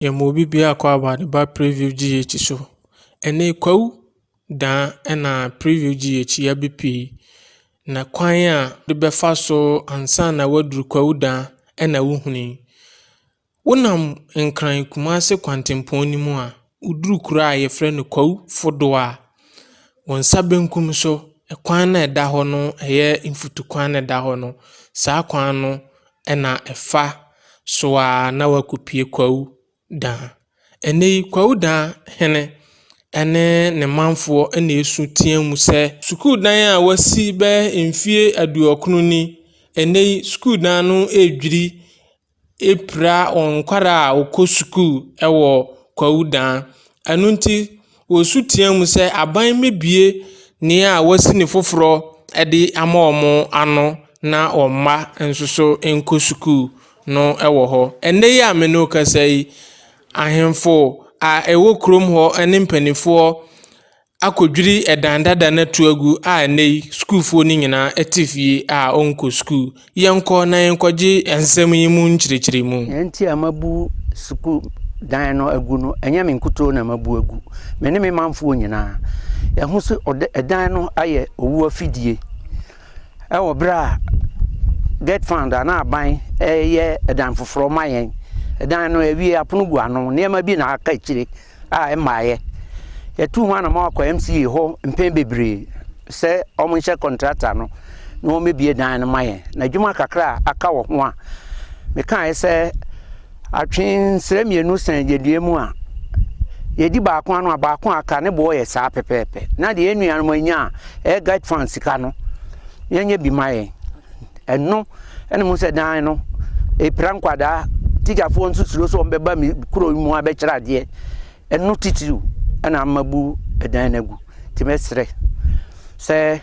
Yɛmmobi biaa call about the ba preview GH so. Ɛnɛ kwawu daa ɛna preview GH yɛbɛ pii. Na kwan a de bɛfa so ansa na waduru kwawu daa ɛna wohuni. Wonam Nkran Kumase kwantempɔn no mu a, woduru kuro a yɛfrɛ no kwawu fodoɔ a, wo nsa benkum so, ɛkwan na ɛda hɔ no ɛyɛ mfutukwan na ɛda hɔ no. Saa kwan no Ɛna ɛfa so ara na wɔakɔpue Kwawu Dan. Ɛnnɛ yi, Kwawu Dan hene ne ne manfoɔ na ɛsu tea mu sɛ, Sukuu dan a wɔasi bɛyɛ mfeɛ aduɔkono ni, ɛnnɛ yi sukuu dan no redwiri apira wɔn nkwadaa a wɔkɔ sukuu wɔ Kwawu Dan. Ɛno nti. Wɔsu teaam sɛ, Aban mmɛbue nea a wɔasi no foforɔ de ama wɔn ano na wɔn mma nso so nkɔ sukuu no wɔ hɔ. Ɛnnɛ yi a me ne wo kasa yi, ahemfo a ɛwɔ kurom hɔ ne mpanimfoɔ akɔdwiri dan dada no ato agu a ɛnnɛ yi sukuufoɔ no nyinaa te fie a wɔnkɔ sukuu. Yɛnkɔ na yɛnkɔgye nsɛm yi mu nkyerɛkyerɛmu. Nea nti a mabu sukuu dan no agu no, ɛnyɛ me nkutoo na mabu agu. Me ne me manfoɔ nyinaa. Yɛahu sɛ ɔda ɛdan no ayɛ owu afidie. Ɛwɔ berɛ a Get Fund anaa aban reyɛ ɛdan foforɔ ma yɛn. Ɛdan no awie, apono gu ano, nneɛma bi na aka akyire. a ɛmmaeɛ. Yɛtuu ho anamɔn kɔ MCA hɔ mpɛn bebree sɛ wɔnhyɛ kɔntrata no na wɔmmɛbie dan no ma yɛn, na adwuma kakra a aka wɔ ho a mekaeɛ sɛ atwe nsrɛ mmienu sɛn yɛn dua mu a yɛdi baako ano a baako a aka ne boɔ yɛ saa pɛpɛɛpɛ na deɛ yɛn nuanom anya a ɛyɛ guide fund sika no yɛnyɛ bi ma yɛn. Ɛno ɛna mu sɛ dan no epira nkwadaa tikyafoɔ nso suro sɛ wɔbɛba mi kuro yi mu abɛkyerɛ adeɛ ɛno titiriw ɛna ama bu ɛdan no agu nti mɛsrɛ sɛ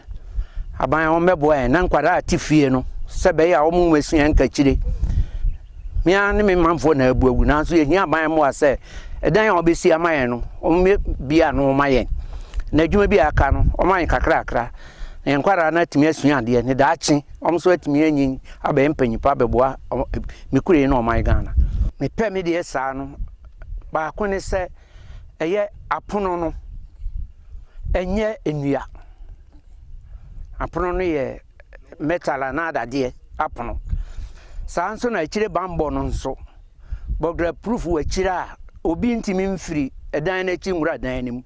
aban wɔn bɛboa yɛn na nkwadaa a te fie no sɛ bɛyɛ a wɔn mɛsua nkakyire mmea ne me manfoɔ na abu agu nanso yɛhia aban mmoa sɛ ɛdan a wɔbɛsi ama yɛn no wɔn bia no wɔn ayɛ na adwuma bi a aka no wɔn ayɛ kakrakra Ne nkwadaa no atumi asua adeɛ ne daakye wɔn nso atumi anyin abɛyɛ mpanyinfoɔ abɛboa me kure na ɔman Ghana. Mepɛ me deɛ saa no baako ne sɛ ɛyɛ apono no ɛnyɛ nnua. Apono no yɛ metal anaa dadeɛ apono. Saa nso na akyire bambɔ no nso. bɔgrapurufo wɔ akyiri a obi ntumi mfiri dan no akyi nwura dan no mu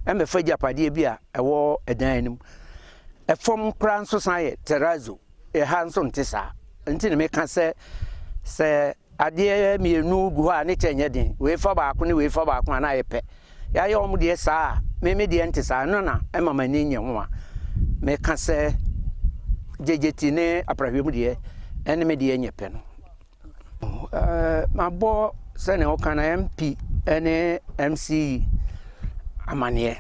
mmɛfa agyapadeɛ bi a ɛwɔ dan no mu. Ɛfam koraa nso san yɛ terrazzo, ɛha nso nte saa. Nti na meka sɛ sɛ adeɛ mmienu gu hɔ a ne kyɛ nyɛ den, wei fa baako ne wei fa baako a na ayɛ pɛ. Yɛayɛ wɔn deɛ saa a, me me deɛ nte saa, ɛno na ɛma m'ani nyɛ ho a meka sɛ gyegyeti ne aprahwɛ mu deɛ ɛne me deɛ nyɛ pɛ no. Mabɔ sɛnea wɔka no MP ne MC amaneɛ.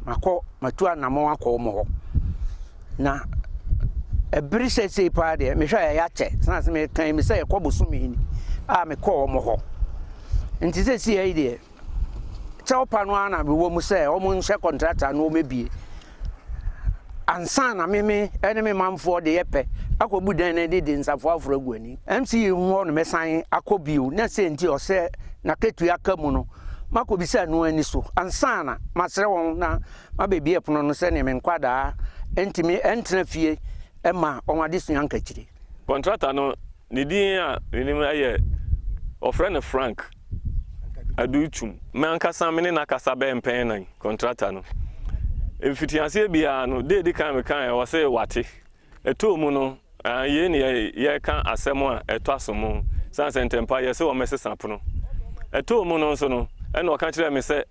Makɔ matu anammɔn akɔ wɔn hɔ na ɛbere seesei paa deɛ mehwɛ a ɛyɛ akyɛ sena sɛ mekan me sɛ ɛkɔ bosome ni a mekɔɔ wɔn hɔ nti seesei yi deɛ kyɛwpa no ara na mewɔ mu sɛ wɔn nhyɛ kɔntrata no wɔmɛbie ansa na meme ne me manfoɔ de yɛpɛ akɔbu dan no de de nsafoɔ aforo agu ani mc yi mu hɔ no mɛsan akɔ bio na sɛ nti ɔsɛ na ketua aka mu no makɔbisa no ani so ansa na masrɛ wɔn na mabɛbie pono no sɛdeɛ me nkwadaa ntumi ntena fie ma wɔn adesua nkakyire Kɔntrata no ne din a menim yɛ wɔfrɛ no Frank Adu Twum. Me ankasa me ne no akasa bɛyɛ mpɛn nnan, kɔntrata no. Mfitiaseɛ biara no, da a ɛdi kan mekaeɛ ɔse wate. Ɛtɔɔ mu no, yei ne yɛreka asɛm a ɛtɔ asom sane sɛ ntɛmpa yɛse wɔmmɛsesa pono. Ɛtɔɔ mu no nso no, ɛna ɔka kyerɛɛ me sɛ.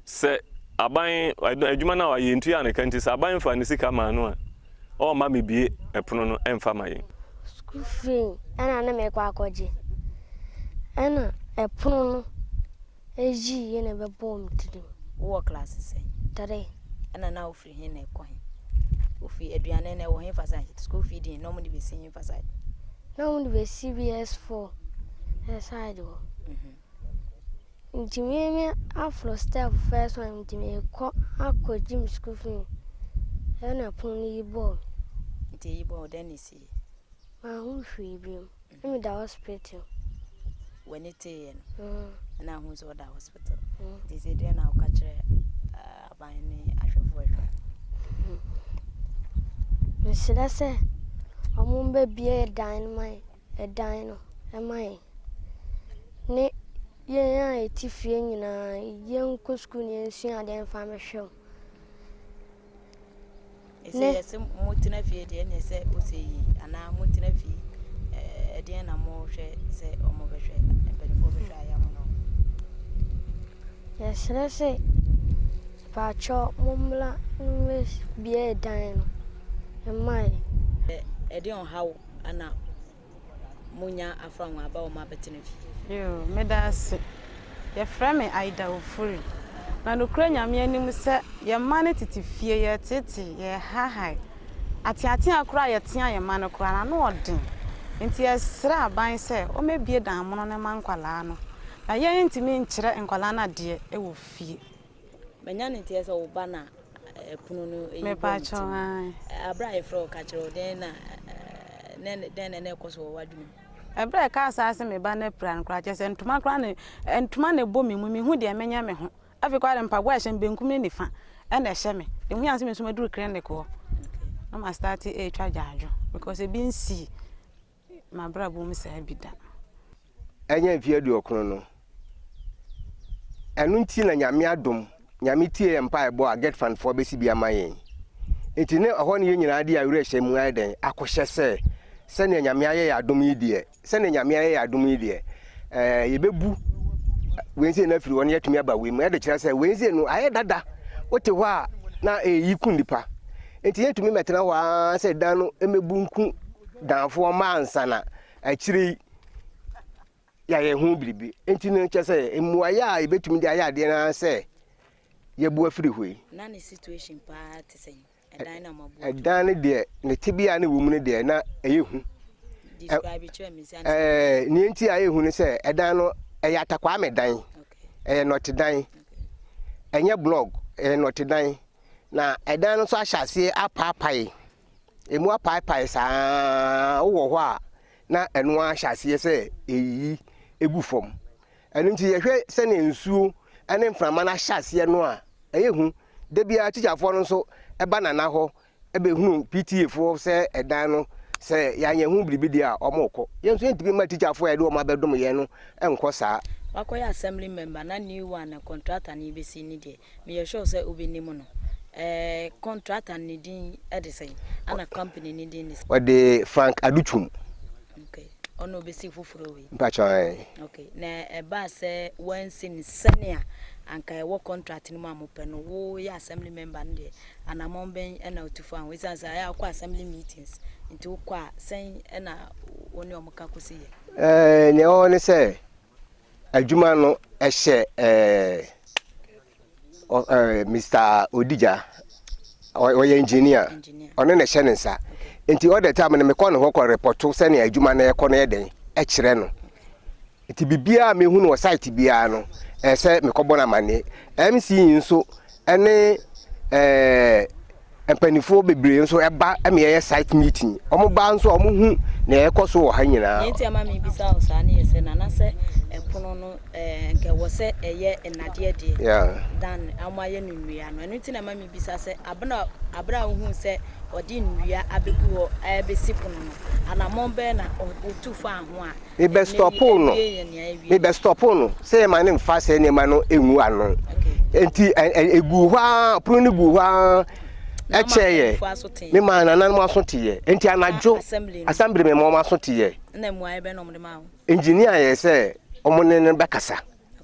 Sɛ aban adwuma no a wayɛ ntua no ka nti, sɛ aban faa ne sika maa no a, ɔremma mebue pono no mfa ma yɛn. Sukuu fee na na merekɔ akɔgye, ɛnna pono no yii na ɛbɛbɔɔ me tirim. Wowɔ klaase sɛn? Three. Ɛnna na wofiri he na ɛkɔ he? Wofi aduane na ɛwɔ hefa side? Sukuu fee din na wɔde bɛsi hefa side? Na wɔde bɛsi BS4 side hɔ. Ntumi me aforo stɛp fɛs wan ntumi kɔ akɔ gyim sukuu fi ɛna pon no yi bɔɔ me. Nti eyi bɔɔ dɛn na esi yɛ? Mahu hwee bi mu na meda hospital. W'ani teeɛ no mm. na ahu sɛ ɔda hospital mm. nti sɛ deɛ na woka kyerɛ ah, aban ne ahwɛfoɔ adwa mm. mesrɛ sɛ ɔmo mbɛbie dan no ma dan no ma yɛn ne yɛn a yɛte fie nyinaa, yɛnkɔ sukuu na yɛnsua adeɛ mfa mehwɛ wo. Ne yɛsɛ motena fie deɛ ne sɛ ɔsɛ yi anaa motena fie ɛdeɛ na mohwɛ sɛ ɔmo bɛhwɛ mpanimfoɔ bɛhwɛ ayɛ mo no. Yɛsrɛ sɛ paakyɛ mommla no bie dan no mmae. Ɛdeɛ ɔhaw ana monya afra ho aba wɔn abɛtena fie. Yoo, meda ase. Yɛfrɛ me Aida Ofori. Na nokorɛ Nyame anim sɛ, yɛn mma no tete fie, yɛreteetee, yɛrehahae. Ateatea koraa a yɛtea yɛn mma no koraa no, ano yɛ den. Enti yɛsrɛ aban sɛ wɔmmɛbue dan mono no mma nkwadaa no. Na yɛrentumi nkyerɛ nkwadaa no adeɛ wɔ fie. Manya no nteɛ sɛ wo ba na ɛpono no ɛyi bɔ ne ti mu. Abere a yɛfrɛ wo ka kyerɛ wo dɛn na dɛn na ɛkɔ so wɔ w'adwuma mu? Ɛberɛ a ɛkaa saa se me ba no apira no koraa kyerɛ sɛ ntoma koraa ne ntoma na ɛbɔ me mu mehu deɛ menyɛ me ho afei koraa de mpaboa a ɛhyɛ me benkum ne nifa ɛna ɛhyɛ me de hu yɛn sɛ me nso maduru clinic hɔ na ma start ɛretwa gyaadwo because ebi nsii M'abrabɔ mu saa bi da. Ɛnyɛ mfe aduokron no. Ɛno nti na Nyame adom, Nyame tie yɛn mpaebɔ a Getfan foɔ bɛsi bi ama yɛn. Nti ne ɛhɔ ne yɛn nyinaa de awerɛhyɛ mu ayɛ dɛn akɔhyɛ sɛ, sɛnea Nyame ayɛ yɛn adom yi deɛ, sɛnea Nyame ayɛ yɛn adom yi deɛ, ɛɛ yɛbɛbu Wednesday no afiri hɔ na yɛatumi aba wei mu. Ɛde kyerɛ sɛ Wednesday no ayɛ dada, wote hɔ a na ɛyi ku nnipa. Enti yɛntumi mmɛtena hɔ ara sɛ dan no mmebu nku danfoɔ mma ansa na akyire yi yɛayɛ ho biribi. Enti no kyɛ sɛ mmuaeɛ a yɛbɛtumi de ayɛ adeɛ no ara sɛ yɛbu afiri hɔ yi. Na ne situation paa te sɛn? Ɛdan na moabu ato. Ɛdan no deɛ ne tebea ne wɔ mu no deɛ na ɛyɛ hu. Describe kyerɛ me sɛ. Ɛɛ nea nti a ɛyɛ hu no sɛ ɛdan no ɛyɛ atakwame dan. Ɛyɛ nɔtedan. Ɛnyɛ blog, ɛyɛ nɔtedan. Na ɛdan no nso ahyɛ aseɛ apaapae, ɛmu apaapae saa ara, wowɔ hɔ a na ɛno ara hyɛ aseɛ sɛ ɛreyiyi gu fam. Ɛno nti yɛhwɛ sɛnea nsuo ne mframa no ahyɛ aseɛ no a, ɛyɛ hu. Da biara tikyafoɔ no nso ba Nana hɔ bɛhunu PTA foɔ sɛ ɛdan no, sɛ yɛanyɛ ho biribi deɛ a, wɔkɔ. Yɛn nso yɛntumi mma tikyafoɔ a yɛde wɔn abɛdom yɛn no nkɔ saa. Wakɔyɛ assembly member na new one a contractor no rebɛsi no deɛ, Meyɛ sure sɛ wobɛnim no. Eh, contractor no ne din de sɛn? Ɛna company no din ne sɛn? Wɔde Frank Adutwum. Okay. Ɔna ɔbɛsi foforɔ wei? Mpakyɛ ae. Okay. Na ɛbaa sɛ wɔansi no sɛnea anka ɛwɔ contract no mu a mopɛ no, woyɛ assembly member no deɛ, anammɔn bɛn na wotu faa ho? Ɛsiane sɛ ɛyɛ a wokɔ assembly meetings nti wokɔ a, sɛn na wo ne wɔn ka kɔsi yɛ? Eh, nea ɛwɔ hɔ ne sɛ, Adwuma no hyɛ Mister Odija, ɔyɛ engineer, ɔno na ɛhyɛ ne nsa. Nti all the time no mekɔ ne hɔ kɔ repɔto sɛnea adwuma no ɛkɔ no yɛ dɛn kyerɛ no. Nti biribiara a mehu no wɔ site biara no, ɛsɛ mekɔbɔ no amanneɛ. MC nso ɛne ɛɛ mpanimfoɔ bebree nso ɛba ɛma yɛyɛ site meeting wɔn ba nso a wɔn hu nea ɛkɔ so wɔ ha nyinaa. nti ama mi bisa wɔ saa ne yɛ sɛ nana sɛ ɛpono no ɛɛ nkɛ wɔ sɛ ɛyɛ nnadeɛ deɛ dan wɔn ayɛ no nnua no ɛno ti na ama mi bisa sɛ abena abena ohun sɛ ɔde nnua abegu hɔ ɛɛbɛsi pono no anamɔn bɛɛ na ɔtu fa ho a. me bɛ stɔpoo no me bɛ stɔpoo no sɛ yɛma no mfa sɛ nneɛma no ngu ano nti egu hɔ a pono no gu hɔ a ɛkyɛ yɛ me maa nana no aso te yɛ nti anadwo asambere me ma wɔn aso te yɛ engineer yɛ sɛ wɔn ne no bɛkasa.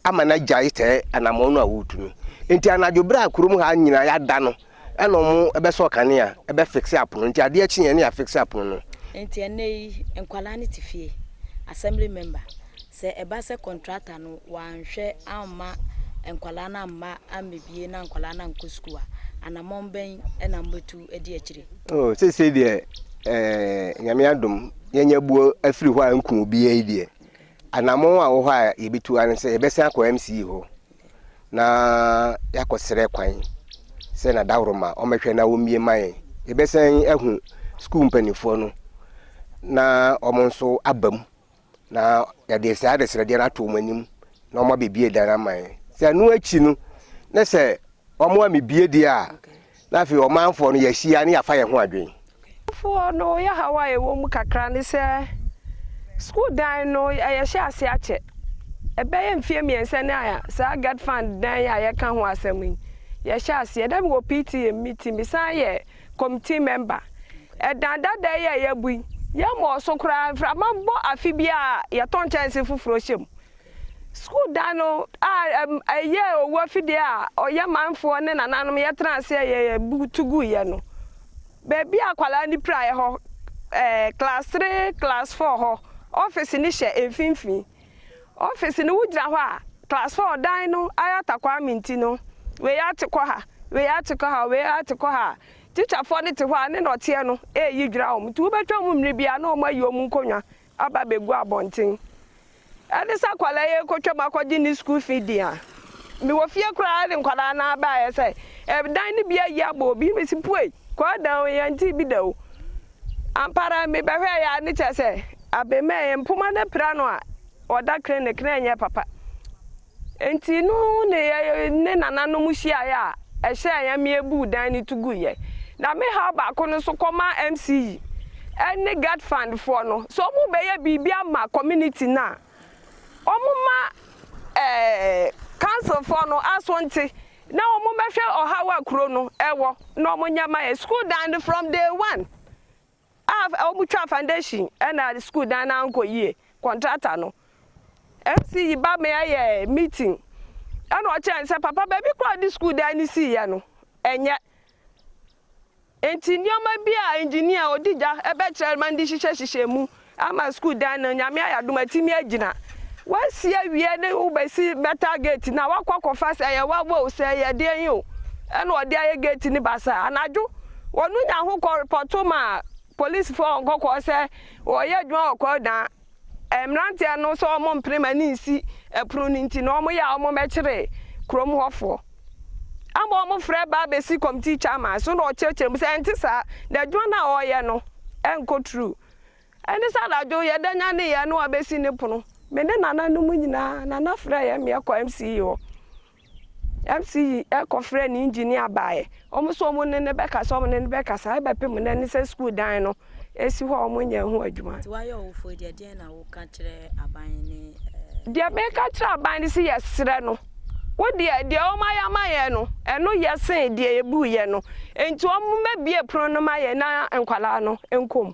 ama no agyae sɛɛ anammɔn no a woretu no. Enti anadwo bere a kurom ha nyinaa yɛada no na wɔbɛsɔɔ kanea, bɛfixe apono. Enti adeɛ kyeeɛ na yɛafixe apono no. Enti ɛnnɛ yi nkwadaa no te fie, assembly member, sɛ ɛba sɛ contractor no wanhwɛ amma nkwadaa no amma ammɛbie na nkwadaa no ankɔ sukuu a, anammɔn bɛn na mobɛtu adi akyire? Oh, seesei deɛ eh, Nyame adom, yɛanya buo afiri hɔ a nku obiara yi deɛ, Anammɔn a ɛwɔ hɔ a yɛbɛtu ara ne sɛ yɛbɛsan akɔ MCE hɔ na yɛakɔsrɛ kwan sɛ na dahoroma wɔmmɛhwɛ na wɔmmie mma yɛn. Yɛbɛsan ahu sukuu mpanimfoɔ no na wɔn nso aba mu na yɛde saa adesrɛdeɛ no ato wɔn anim na wɔabɛbie dan ama yɛn. Sɛ ɛno akyi no, na sɛ wɔammebie deɛ a, Na afei ɔmanfoɔ no, yɛahyia na yɛafa yɛn ho adwene. Foɔ no yɛhaw a ɛwɔ mu kakra ne sɛ sukuu dan no yɛhyɛ ase akyɛ. Ɛbɛyɛ mfeɛ mmiɛnsa ni a saa Get Fund dan yi a yɛka ho asɛm yi yɛhyɛ aseɛ. Na mewɔ PTA mu, me ti mesan yɛ committee member. Ɛdan dada yi a yɛabu yi, yɛmmɔɔ so koraa, mframa bɔ afe biara a yɛtɔ nkyɛnse foforɔ hyɛ mu. Sukuu dan no a ɛyɛɛ owu afidie a ɔyɛ manfoɔ ne nananom yɛtena aseɛ yɛɛ bu tu guiɛ no, baabi a akwadaa no piraeɛ hɔ, ɛɛ, class three, class four hɔ, ɔfese no hyɛ mfimfini. Ɔfese no wogyina hɔ a, class four dan no ayɛ atakwame nti no, wei ate kɔ ha, wei ate kɔ ha, wei ate kɔ ha a, tikyafoɔ no te hɔ a ne nnɔteɛ no reyi dwira wɔn. Nti wobɛtwa wɔn mmere biara na wɔayi wɔn nkonnwa aba abegu abɔnten ɛde sɛ akwadaa yi rekɔtwam akɔgye ne sukuu fi din a, mewɔ fie koraa de nkwadaa no ara baeɛ sɛ ɛdan no bi ayi abɔ obi, mesi puei, kɔɔ dan o, yɛntee bi da o. Ampa ara mebɛhwɛeɛ ara ne kyerɛ sɛ abɛmɛɛ mpoma no apira no a ɔda krenekren ɛnyɛ papa. Enti no ne yɛne nananom hyiae a ɛhyɛɛ yɛn ma yebuu dan no tu guiɛ. Na me haw baako no nso kɔmaa MCE ne Gad Fund foɔ no sɛ wɔn bɛyɛ biribi ama community no a wɔn ma ɛɛ council foɔ no aso nte na wɔn bɛhwɛ ɔhaw a kuro no ɛwɔ na wɔn nyɛ ma yɛn school dan no from day one. A wɔtwaa foundation na sukuu dan no ankɔ yie, contractor no MC yi ba me ɛyɛ meeting ɛna ɔkyerɛ sɛ papa baabi kɔ a ɔde sukuu dan no siiɛ no ɛnyɛ nti nneɛma bi a engineer ɔdi gya ɛbɛkyerɛ ma ndi hyehyɛ hyehyɛ mu ama sukuu dan no nyame ayɛ adom atimi agyina wasi awie ne wobɛsi metal gate na wakɔ akɔfa sɛ ɛyɛ wawa o sɛ ɛyɛ deɛ yi o ɛna ɔde ayɛ gate ne basa anadwo Wɔno nya ho kɔ repɔto ma polisifo wɔ nkɔkɔɔ sɛ wɔreyɛ adwuma wɔ kwawu dan mmeranteɛ no sɛ wɔn mpene ma ne nsi ɛpono no nti na wɔn yɛ a wɔn bɛkyere kurom hɔ foɔ ama wɔn frɛ ba abɛsi committee chairman so na ɔkyerɛkyerɛ mu sɛ ɛnte saa na adwuma no a wɔreyɛ no ɛnkɔ tru ɛne sɛ anadwo yɛda nya ne yɛ na wɔabɛsi ne pono me ne nana no mu nyinaa nana frɛ yɛ meɛ kɔ MCE hɔ MC yi kɔ frɛɛ ne engineer baeɛ, wɔn nso wɔn ne no bɛkasa wɔn ne no bɛkasa ɛbɛpem nnɛ ne sɛ school dan no si hɔ a wɔn nyɛɛ ho adwuma. Nti wayɛ ɔwofoɔ deɛ deɛn na wo ka kyerɛ aban ne ɛɛ. Deɛ me ka kyerɛ aban ne se yɛ serɛ no, wo deɛ deɛ wɔn ayɛ ama yɛn no ɛno yɛ sen deɛ yɛ buu yɛn no, nti wɔn mɛ bie pono no ma yɛn na nkwadaa no nkɔ mu.